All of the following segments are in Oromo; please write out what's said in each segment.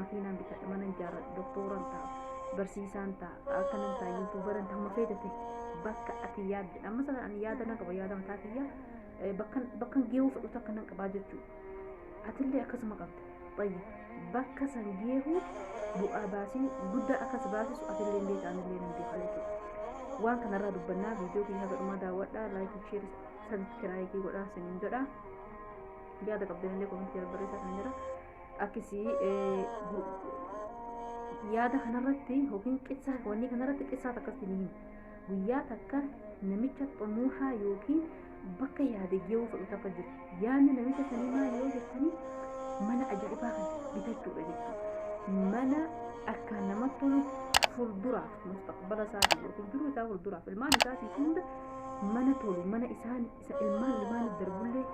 makiinaan bitadha mana ijaarradha doktooran ta'a barsiisaan ta'a akka nan ta'a yuutuubaran ta'a mafee jete bakka ati yaadde amma sana ani yaada nan qaba yaada mataa kiyya eh, bakkan bakkan geewuu fudhutu akka nan qabaa jechuudha atillee akkasuma qabda bayya bakka san geewuu bu'aa baasii guddaa akkas baasisu atillee hin beekaa anillee hin beekaa jechuudha waan kanarraa dubbannaa viidiyoo kiyya haga dhumaa daawwadhaa laayikii sheerii sabiskiraayikii godhaa sinin jedhaa yaada qabdanillee komentii irra barreessaa kan jira akkasii yaada kanarratti yookiin qissaa wanni kanarratti qissaa takkatti ni himu guyyaa takka namicha xumuuhaa yookiin bakka yaade geewuu fudhu takka jiru yaadni namicha sanii maal yoo jettanii mana ajaa'ibaa kana bitachuudha jechuudha mana akka namatti tolu fuulduraaf mustaqbala isaatii yookiin jiru isaa fuulduraaf ilmaan isaatii hunda mana tolu mana isaan isa ilmaan ilmaan darbullee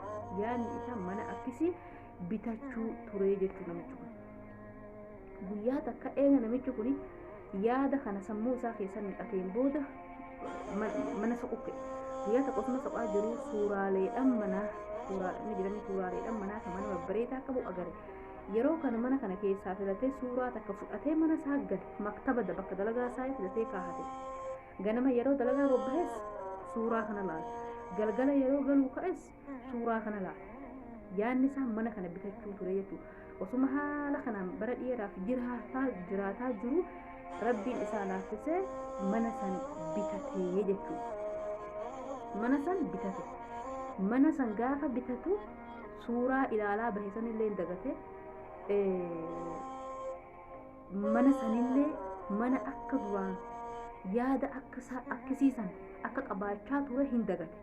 yaadni isaa mana akkisii bitachuu turee jechuu namichi kun. Guyyaa takka eega namichi kun yaada kana sammuu isaa keessan naqateen booda mana soqukke. Guyyaa takka osuma soqaa jiru suuraaleedhaan manaa suuraadhaan jiranii suuraaleedhaan manaa kan mana babbareedaa qabu agare. Yeroo kana mana kana keessaa filatee suuraa takka fudhatee mana isaa gale maktaba bakka dalagaa isaa filatee kaahate. Ganama yeroo dalagaa bobbahes suuraa kana laala. Galgala yeroo galuu ka'es suuraa kana laala. Yaadni isaa mana kana bitachuu ture jechuudha. Osuma haala kanaan bara dheeraaf jiraataa jiraataa jiru rabbiin isaa laaffisee mana san bitatee jechuudha. Mana san bitate. Mana san gaafa bitatu suuraa ilaalaa bahe sanillee hin dagate. Mana sanillee mana akka duraan yaada akka isaa akkisiisan akka qabaachaa ture hin dagate.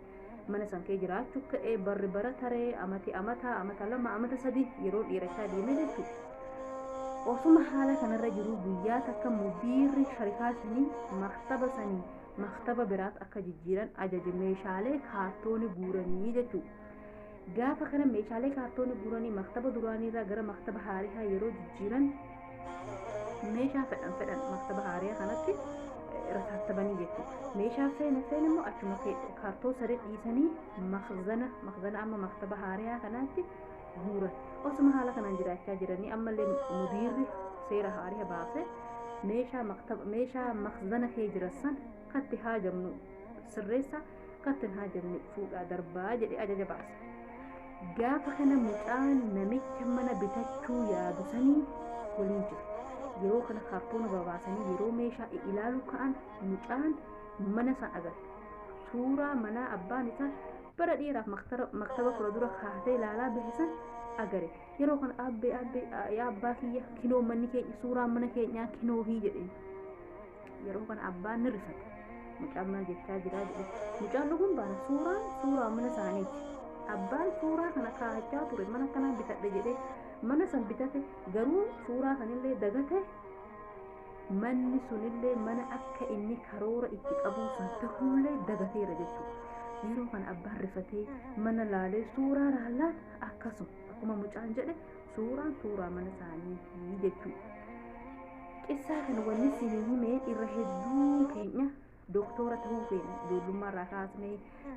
mana san kee jiraachu ka'e barri bara taree amati amata amata lama amata sadi yeroo dhiirachaa deeme jechuudha osuma haala kanarra jiru guyyaa takka mudiirri sharikaa sanii maktaba sanii maktaba biraat akka jijjiiran ajaje meeshaalee kaartooni guuranii jechuudha Gaafa kana meeshaalee kaartoonii guuranii maktaba duraaniirraa gara maktaba haarihaa yeroo jijjiiran meeshaa fedhan fedhan maktaba haariyaa kanatti irra taasisabanii jechuudha. Meeshaa feene feene immoo achuma kaartoo saree dhiisanii makzana makzana amma maktaba haariyaa kanaatti guuran. Osuma haala kanaan jiraachaa jiranii ammallee mudiirri seera haariya baase meeshaa maktaba meeshaa makzana kee jiran san katti haajamnu sirreessaa Kattan haa jenne fuudhaa darbaa jedhe ajaja baase. Gaafa kana mucaan namicha mana bitachuu yaadu sanii waliin jiru. Yeroo kana kaartoona babaasanii yeroo meeshaa ilaalu ka'an mucaan mana isaa agarre. Suuraa manaa abbaan isaa bara dheeraaf maktaba kura dura kaatee ilaalaa bahe san agare. Yeroo kana abbee abbee yaa abbaa kiyya kinoo manni keenya suuraa mana keenyaa kinoo hii jedheen. Yeroo kana abbaan ni risate. Mucaan maal jechaa jiraa jedhe. Mucaan dhuguun baana suuraan suuraa mana isaaniiti. Abbaan suuraa kana kaa'achaa ture mana kanaan bitadhe jedhee mana san bitate garuu suuraa sanillee dagate manni sunillee mana akka inni karoora itti qabuu san ta'ullee dagateera jechuudha. Yeroo kana abbaan rifatee mana laalee suuraa laallaan akkasuma akkuma mucaan jedhe Suuraan suuraa mana isaaniitii jechuudha. Qissaa kana wanni isinii hime irra hedduun keenya doktora ta'uu feena ijoollummaa irraa kaasne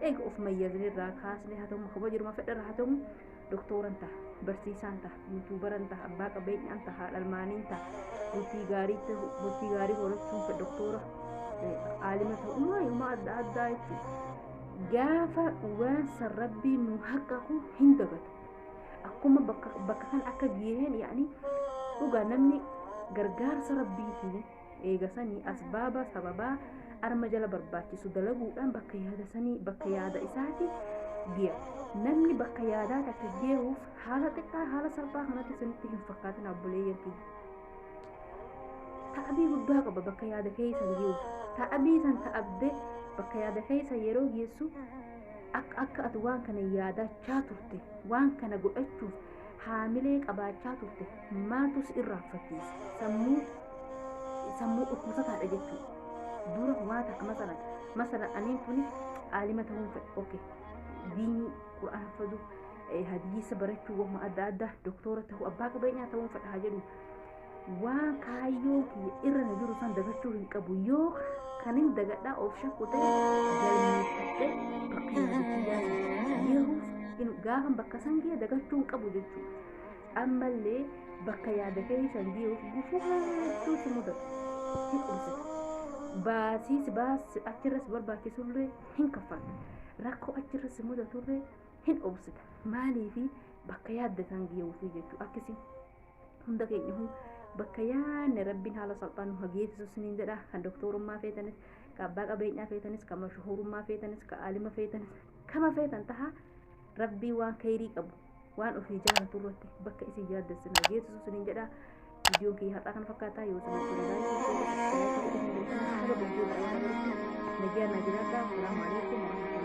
eega of mayyazne irraa kaasne haa ta'u kama jiruma fedha irraa haa ta'u doktoran ta'a barsiisaan ta'a yuutuubaran ta'a abbaa qabeenyaan ta'a haadha ilmaaniin ta'a bultii gaarii ta'u bultii gaarii horachuun fedha doktora aalima ta'ummaa yooma adda addaa jechuudha. Gaafa waan san rabbiin nu haqqaqu hin dagatu. akkuma bakka bakka kan akka giheen yaani dhugaa namni gargaarsa rabbiitiin eegasanii asbaaba sababaa arma jala barbaachisu dalaguudhaan bakka yaada sanii bakka yaada isaati giya namni bakka yaadaa takka geeruuf haala xiqqaa haala salphaa kanatti isinitti hin fakkaatin abboleeyyan kiyya ta'abii guddaa qaba bakka yaada keessa geeruuf ta'abii san ta'abde bakka yaada keessa yeroo geessu akka akka ati waan kana yaadachaa turte waan kana godhachuuf haamilee qabaachaa turte maaltu si irraanfachiise sammuu sammuu dhukkubsataadha jechuudha dura waa takka masalan masalan aniin tuni aalima ta'uun fedha oke diinii qur'aan fadu hadiisa barachuu wamma adda addaa doktoora ta'uu abbaa qabeenyaa ta'uun fedha haa jedhu waan kaayyoo kiyya irra na jiru san dagachuu hin qabu yoo kan hin dagadhaa of shakku ta'e galmeeffadhe bakka yaadachuu yehuus hin gaafan bakka san gee dagachuu hin qabu jechuudha ammallee bakka yaada keessan geehuuf gufuu hedduu si mudatu hin qubsitu baasiis baas achirras barbaachisullee hin kaffaltu rakkoo achirras mudatullee hin obsita maaliifi bakka yaadda san geehuufi jechuudha akkasiin hunda keenyahu bakka yaanne rabbiin haala salphaan nu hageessisu isiniin jedha kan doktorummaa feetanis kan abbaa qabeenyaa feetanis kan mashuhurummaa feetanis kan aalima feetanis kama feetan taha rabbii waan kayrii qabu waan ofii jaalatu irratti bakka isin yaadda isin hageessisu isiniin jedha viidiyoon kiyya har'aa kana fakkaataa yoo isin hojjete laayikii fi nagaa naa jiraadhaa salaamu alaikum warahmatullahi